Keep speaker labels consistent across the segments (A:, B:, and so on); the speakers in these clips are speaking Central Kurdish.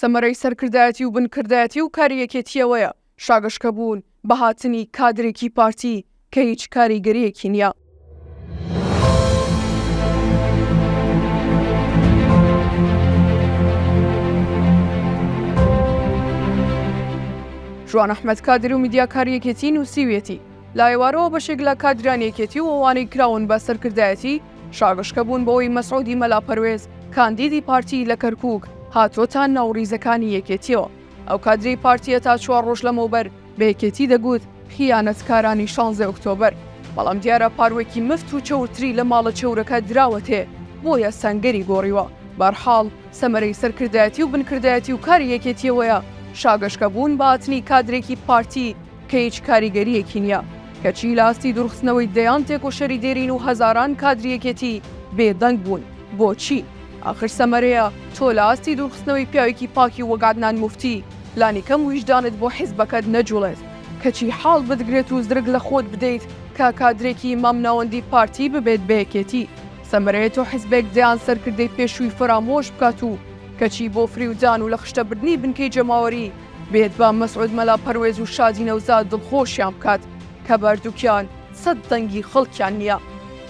A: سەمەرەی سەرکردایەتی و بنکردایەتی و کاری یەکێتییەوەیە شاگەشکەبوون بە هاتنی کادرێکی پارتی کە هیچ کاریگەرییەکی نییە. ژوان ئەحمەد کادر و میدیاکاری یەکێتی نووسیویەتی، لە ئێوارەوە بەشێک لە کادرانی یەکێتی و ئەوانەی کراون بە سەرکردایەتی، شاگشکە بوون بەوەی مەسعودی مەلا پەروێز کاندیدی پارتی لە کەرکوک هاتۆتە ناو ریزەکانی یەکێتیەوە ئەو کادری پارتیە تا چوار رۆژ لەمەوبەر بە یەکێتی دەگوت خیانەتکارانی شانزەی ئۆکتۆبەر بەڵام دیارە پاروێکی مفت و چەورتری لە ماڵە چەورەکە دراوەتێ بۆیە سەنگەری گۆریوە بەرحاڵ سەمەرەی سەرکردایەتی و بنکردایەتی و کاری یەکێتیەوەیە شاگەشکە بوون بە هاتنی کادرێکی پارتی کە هیچ کاریگەرییەکی نییە، کەچی لە ئاستی دوورخستنەوەی دەیان تێکۆشەری دێرین و هەزاران کادری یەکێتی بێدەنگ بوون. بۆچی؟ ئاخر سەمەرەیە تۆ لە ئاستی دوورخستنەوەی پیاوێکی پاکی وەک عەدنان موفتی، لانیکەم ویژدانت بۆ حیزبەکەت نەجوڵێت، کەچی حاڵ بتگرێت و زرک لە خۆت بدەیت کە کادرێکی مامناوەندی پارتی ببێت بە یەکێتی. سەمەرەیە تۆ حیزبێک دەیان سەرکردەی پێشووی فەرامۆش بکات و کەچی بۆ فریودان و لە خشتەبردنی بنکەی جەماوەری، بێت با مەسعود مەلا پەروێز و شادی نەوزاد دڵخۆشیان بکات کە بەردوکیان سەد دەنگی خەڵکیان نییە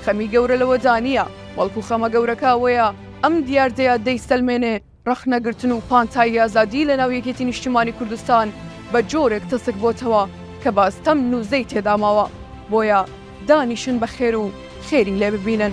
A: خەمی گەورە لەوەدا نییە بەڵکو خەمە گەورەکە ئەوەیە ئەم دیاردەیە دەیسەلمێنێ ڕەخنەگرتن و پانتایی ئازادی لەناو یەکێتی نیشتیمانی کوردستان بە جۆرێک تەسک بۆتەوە کە بە ستەم نوزەی تێدا ماوە بۆیە دانیشن بە خێر و خێری لێ ببینن.